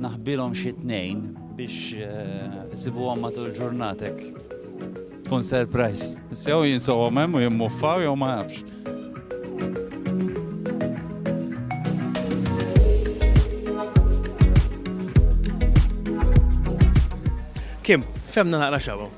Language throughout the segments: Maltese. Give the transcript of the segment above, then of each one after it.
naħbilhom xi tnejn biex eh, isibuhom matul ġurnatek. Kun surprise. Sew jinsowhom hemm u jimmuffaw jew ma nafx. Kim, femna naqra xabu.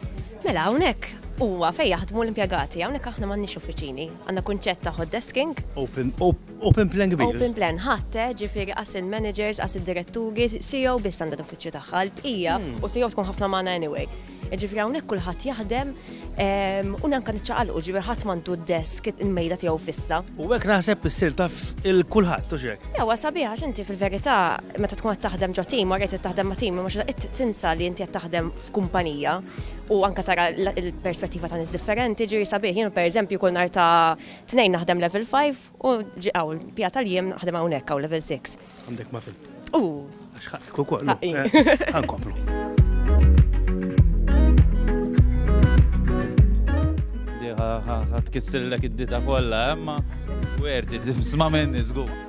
Mela hawnhekk huwa fejn jaħdmu l-impjegati, hawnhekk aħna m'għandniex uffiċini. Għandna kunċett ta' hot desking. Open, open Open plan kbir. Open plan, ħadd, eh, ġifieri qas il-managers, qas id-diretturi, CEO biss għandha l-uffiċċju tagħha, l-bqija, u CEO tkun ħafna magħna anyway. Ġifieri hawnhekk kulħadd jaħdem ehm, u nanka niċċaqalqu ġifieri ħadd m'għandu d-desk il-mejda tiegħu fissa. U hekk naħseb issir taf il-kulħadd u xek. Ewa sabiħ għax inti fil-verità meta tkun qed taħdem ġo tim, wara qed taħdem ma' tim, ma qed tinsa li inti qed taħdem f'kumpanija u anka tara l-perspettiva ta' nies differenti ġifieri sabiħ. Jien pereżempju kull nhar ta' Tnejn naħdem level 5 u ġi hawn pija tal-jiem naħdem hawnhekk hawn level 6. Għandek ma fil. U. Għax ħaqqek ukoll. Ħankomplu. Diħa tkissillek id-dita kollha, emma werti tisma' minni żgur.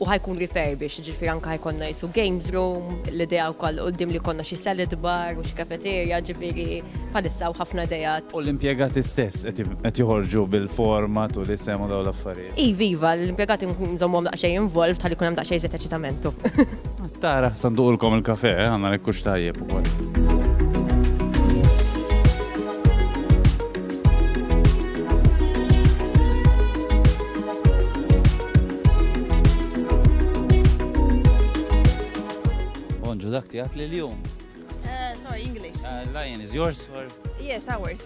u ħa jkun refurbished, ġifieri anke ħa jkollna qisu games room, l-idea wkoll l-quddiem li jkollna xi salad bar u xi cafeteria, ġifieri bħalissa hawn ħafna ideat. U l-impjegati stess qed joħorġu bil-format u l-isem u dawn l-affarijiet? Iva, iva, l-impjegati nkun nżommhom daqsxejn involved ħalli jkun hemm daqsxejn iżjed eċitamentu. Tara sa nduqulkom il-kafè, eh, għandna hekk hux tajjeb ukoll. Bonġu dak tiegħek li l-jum. Eh, sorry, English. Uh, lion is yours or? Yes, ours.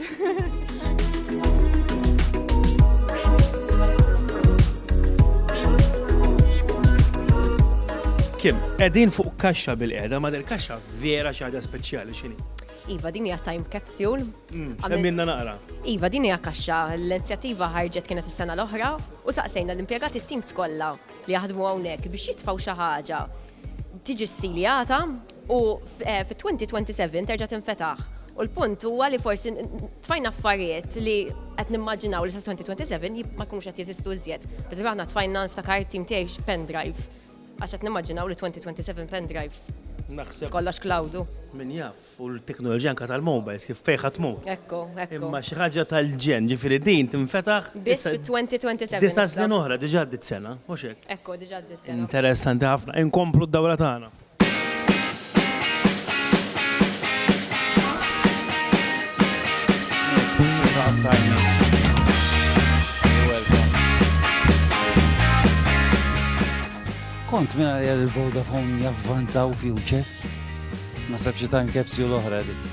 Kim, edin fuq kaxxa bil-qeda, ma del kaxxa vera xaħda speċjali xini. Iva, din hija time capsule Mm, Semmilna naqra. Iva, din hija kaxxa. L-inizjattiva ħarġet kienet is-sena l-oħra u saqsejna l-impjegati t-tim skolla li jaħdmu hawnhekk biex jitfaw xi ħaġa tiġi s-siljata u eh, fit-2027 terġa' tinfetaħ. U l-punt huwa li forsi tfajna affarijiet li qed nimmaġinaw li sa 2027 ma jkunux qed jeżistu iżjed. Biżi aħna tfajna nftakar tim tiegħi pendrive għax qed nimmaġinaw li 2027 pendrives. Naħseb. Kollox cloudu. Min jaf. u l-teknoloġija anke tal-mobiles kif fejn ħa tmur. Ekku, ekku. Imma xi ħaġa tal-ġenn, ġifieri din tinfetaħ. Biss fit-2027. Disa' snin oħra, diġà għaddiet sena, mhux hekk? Ekku, diġà għaddiet sena. Interessanti ħafna. Inkomplu d-dawra tagħna. Kont mingħajr il-Vodafone javvanzaw future? Naħseb xi time capsule oħra dik.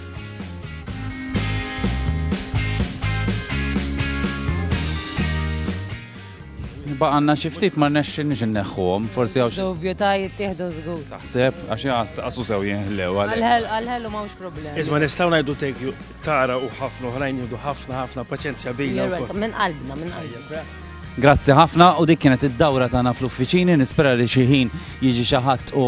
baqanna xi ftit ma rnexxinix inneħħuhom, forsi hawn xi. Dubju ta' jittieħdu żgur. Taħseb għax jaqasu sew jinħlew għal. Għal-ħelu m'hawnx problemi. Iżma nistgħu ngħidu take tara u ħafna oħrajn jieħdu ħafna ħafna paċenzja bina. Minn qalbna, minn qalbna. Grazzi ħafna u dik kienet id-dawra tagħna fl-uffiċini, nispera li xi ħin jiġi xi ħadd u